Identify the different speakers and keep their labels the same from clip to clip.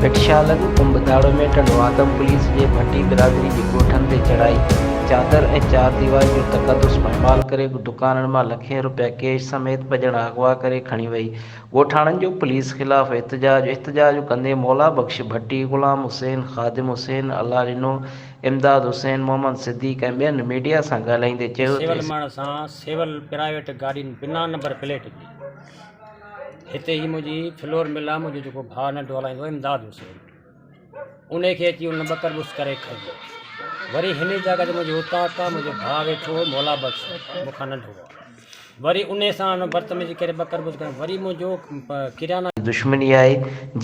Speaker 1: بٽشالن ڪنڀداڙو ۾ ٽنڊوآدم پوليس جي ڀٽي برادري جي ڳوٺن تي چڙهائي، چادر ۽ چار ديواري جو تقدس پائمال ڪري دڪانن مان لکين رپيا ڪيش سميت ٻه ڄڻا اغوا ڪري کڻي وئي، ڳوٺاڻن جو پوليس خلاف احتجاج، احتجاج ڪندي مولا بخش ڀٽي، غلام حسين، خادم حسين، الله ڏنو، امداد حسين، محمد صديق ۽ ٻين ميڊيا سان ڳالهائيندي چيو ته سول ماڻهن سان
Speaker 2: سول پرائيويٽ گاڏين بنا نمبر پليٽ جي. هتي هي منهنجي فلور مل آ منهنجو جيڪو ڀاء ننڍو هلائيندو آ امداد حسين ان کي اچي ان ٻه ڪربس ڪري کئي وري هن جاء تي منهنجو اوطاق آ منهنجو ڀاء ويٺو هو مولا بخش مون کان ننڍو آ وري ان سان ان بدتميزي ڪري ٻه ڪربس ڪري وري منهنجو ڪريانا دشمني آهي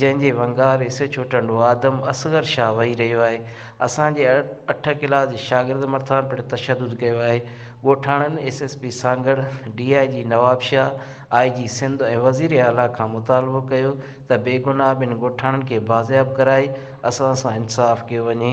Speaker 1: جنهن جي ونگار S H O Tando Adam Asghar Shah وهي رهيو آهي اسان جي اٺ ڪلاس جي شاگرد مرٿان پڻ تشدد ڪيو آهي ڳوٺاڻن S S P Sanghar, D I G Nawabshah, I G Sindh ۽ وزير اعليٰ کان مطالبو ڪيو ته بيگناهه ٻن ڳوٺاڻن کي بازياب ڪرائي اسان سان انصاف ڪيو وڃي.